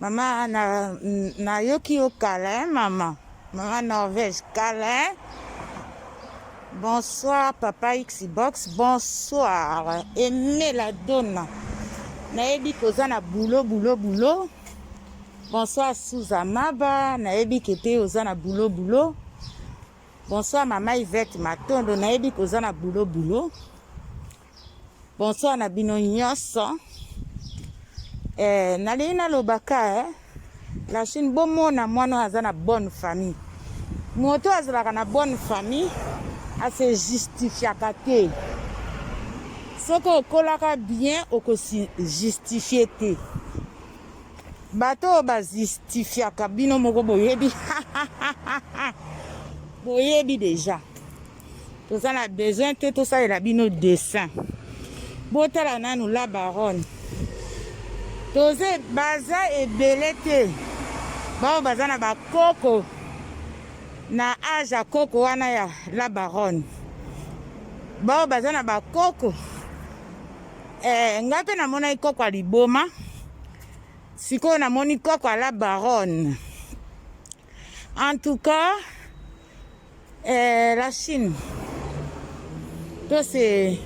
Mama na nayoki yo kala hein mama. Mama Norvège kala hein. Bonsoir papa Xbox, bonsoir Aimé la donna. Nayebi koza na boulot boulot boulot. Bonsoir Souza Maba, nayebi kete oza na boulot boulot. Bonsoir mama Yvette Matondo, nayebi koza na boulot boulot. Bonsoir na bino nyonso. Eh, nalingi nalobaka eh, la Chine bomona mwana oyo aza na bonne famille. Moto oyo azalaka na bonne famille ase justifiaka te. Soki okolaka bien okosi justifie te. Bato oyo bajustifiaka bino moko boyebi boyebi deja. toza na besoin te tosalela bino dessin botala nanu la baronne toza baza ebele te baoyo baza na bakoko na age ya koko wana ya la baronne baoyo baza na bakoko eh, ngai mpe namonaki koko ya liboma sikoyo namoni koko ya la baronne En tout cas, euh, la Chine, tout c'est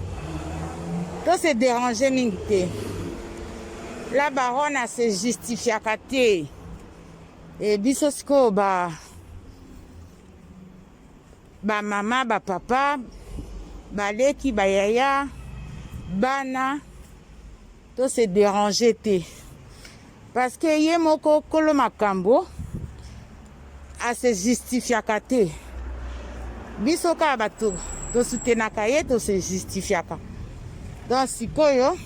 tout c'est dérangé mingi te. La baronne a se justifiaka te. Et biso sikoyo ba ba mama ba papa baleki bayaya bana to se déranger te. Parce que ye moko kolo makambo a se justifiaka te. Biso kaka bato tosutenaka ye to se justifiaka. Donc sikoyo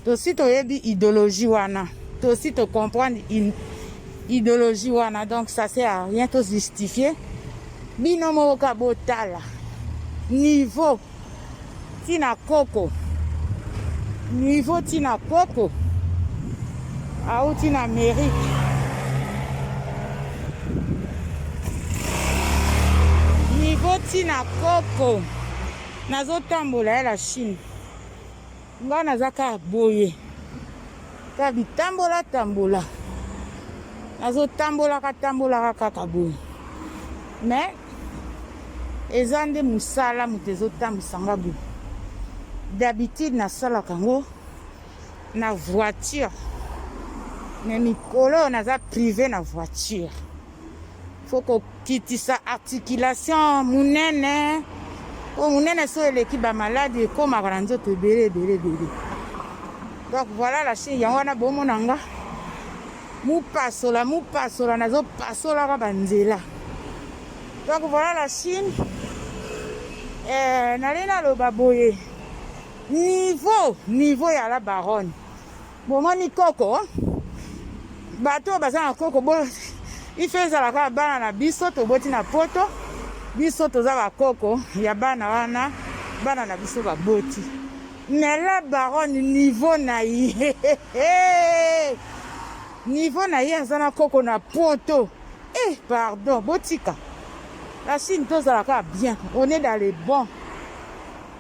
tosi toyebi idéologie wana tosi to comprendre une idéologie wana donc ça sert à rien to justifier bino moko ka botala niveau tina koko niveau tina koko auti na amerike niveau tina koko nazotambola ya la chine Nga naza ka boye ka bitambola tambola nazotambolaka tambolaka kaka boye me eza nde mosala moto ezotambwisa nga boye d'habitude nasalaka yango na voiture me mikolo oyo naza prive na voiture fo kokitisa articulation monene po monene so eleki bamaladi ekomaka na nzoto ebele ebele ebele donc voilà la chine yango wana bomona nga mopasola mopasola nazopasolaka banzela donc voilà la chine eh, nalei naloba boye niveau niveau ya la baronne bomoni koko bato oyo baza na koko bo ife ezala kaka bana na biso toboti na poto biso toza bakoko ya bana wana bana na biso baboti mais la baronne niveau na ye niveau na ye aza na koko na poto eh pardon botika la chine tozala kaka bien on est dans le bon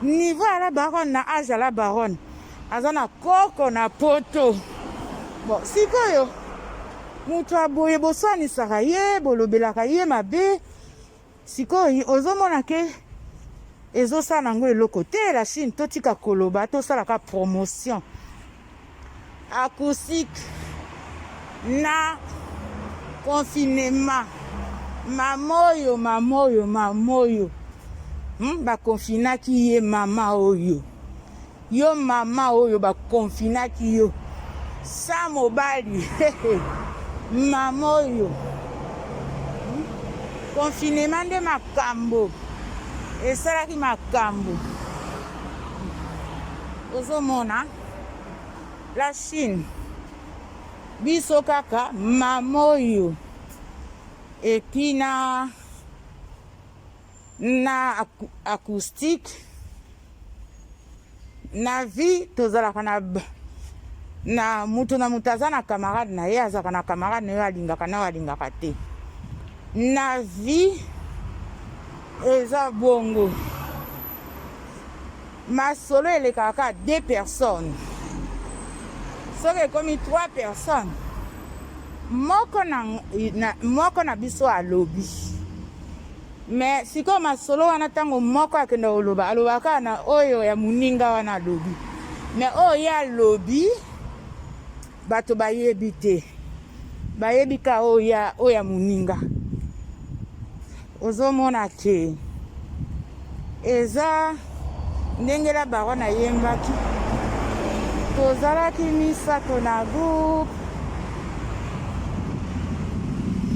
niveau ya la baronne na age ya la baronne aza na koko na poto bon sikoyo moto ya boye boswanisaka ye bolobelaka ye mabe sikoyo ozomona ke ezosala yango eloko te la chine totika koloba tosalaka promotion acoustique na confinement mama oyo mama oyo mama oyo hmm, bakonfinaki ye mama oyo Yo mama oyo ba confinaki yo sa mobali mama oyo confinement nde makambo esalaki makambo ozomona la chine biso kaka mama oyo etina na acoustique na vie tozalaka na na moto na moto aza na camarade na ye azalaka na camarade na yo alingaka na yo alingaka te na vie eza bongo masolo elekaka kaka deux personnes soki ekomi trois personnes moko na, na, moko na biso alobi Mais sikoyo masolo wana ntango moko akenda koloba alobaka kaka na oyo ya moninga wana alobi mais oyo ye alobi bato bayebi te bayebi ka oyo ya oyo ya moninga ozomona ke eza Ndenge la baronne ayembaki, tozalaki misato na groupe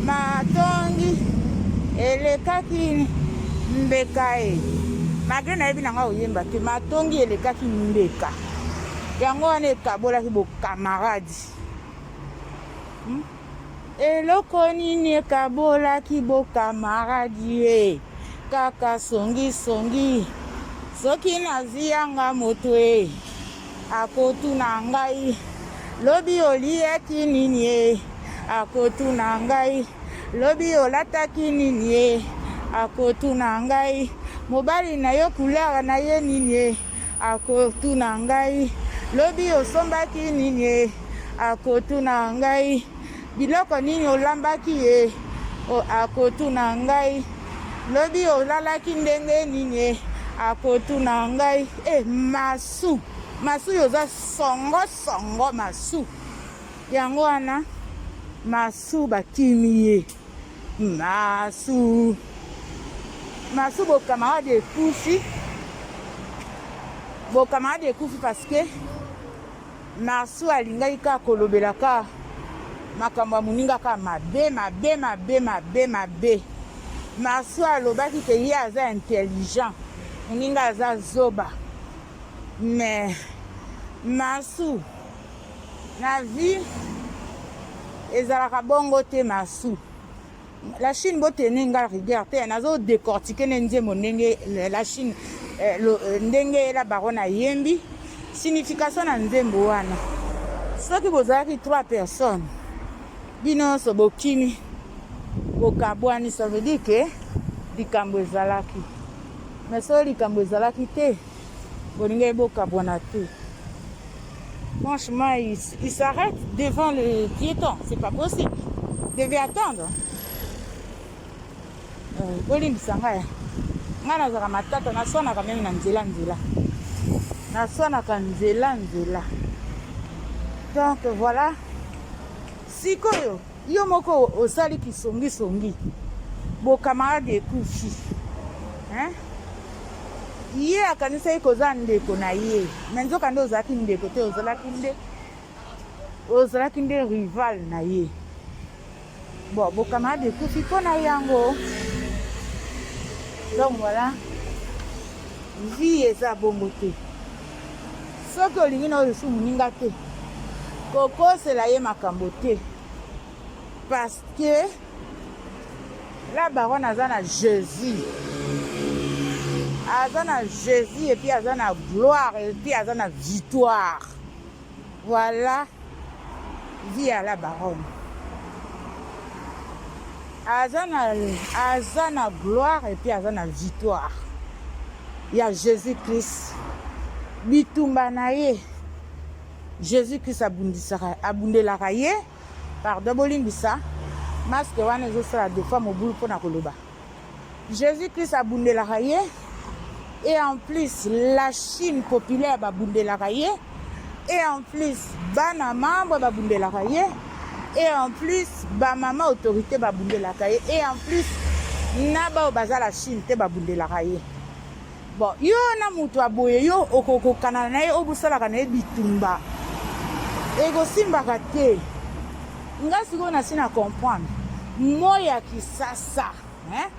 matongi elekaki mbeka e malgre nayebi na ngai oyemba te matongi elekaki mbeka yango wana ekabolaki bokamaradi hmm? Eloko nini ekabolaki bo camarade ye kaka songi songi soki nazwi yanga moto ye akotuna ngai lobi oliyaki nini ye akotuna ngai lobi olataki nini ye akotuna ngai mobali na yo couleur na ye nini ye Akotuna ngai lobi osombaki nini ye, akotuna ngai biloko nini olambaki ye, akotuna ngai lobi olalaki ndenge nini ye, akotuna ngai e eh, masu masu yo oza songo songo masu yango wana masu bakimi ye. Masu. Masu bo camarade ekufi. Bo camarade ekufi parce que Masu alingaki kaka kolobela kaka makambo ya moninga kaka mabe mabe mabe mabe mabe. Masu alobaki ke ye aza intelligent. Moninga aza zoba. Mais Masu Na vie ezalaka bongo te masu. La Chine bo tenir nga rigueur te nazo décortiquer ne nzembo ndenge la Chine eh, lo, eh, ndenge la baronne ayembi signification na nzembo wana soki bozalaki trois personnes bino nyonso bokimi bokabwani ça veut dire que likambo ezalaki mais soki likambo ezalaki te bolinga ye bokabwana te franchement il, il s'arrête devant le piéton c'est pas possible devait attendre euh, bolimbisa ngai ngai nazalaka matata naswanaka meme na nzela nzela naswanaka nzela nzela donc voilà sikoyo Yo moko osali kisongi songi. Bo camarade ekufi. Hein? Ye akanisaki koza ndeko na ye. Mais nzoka nde ozalaki ndeko te ozalaki nde ozalaki nde rival na ye. Bon, bo camarade ekufi mpo na yango. Donc voilà. Vie eza bongo te. soki olingi na oyo su moninga te kokosela ye makambo te parce que la baronne aza na jésus aza na jésus epuis aza na gloire epuis aza na victoire Voilà vie à la baronne. Aza na aza na gloire et puis aza na victoire ya Jésus-Christ. Bitumba na ye Jésus-Christ abundisaka abundelaka ye. Pardon bolimbisa masque wana ezosala defa mobulu mpo na koloba. Jesus Christ abundelaka ye et en plus la Chine populaire babundelaka ye et en plus bana membre babundelaka ye et en plus bamama autorité babundelaka ye et en plus na baoyo baza la Chine te babundelaka ye Bon yo na mutu ya boye yo okokokana na ye obosalaka na ye bitumba ekosimbaka te nga sikoyo nasi na comprendre moi ya kisasa hein?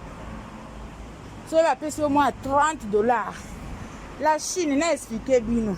soki bapesi yo mwa 30 dollars la chine na explike bino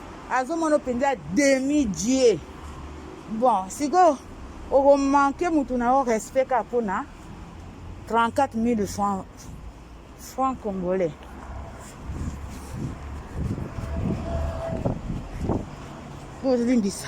azomona mpenza demi dieu bon sikoyo okomanke motu na yo respect kaka mpo na 34 000 francs franc congolais bolimbisa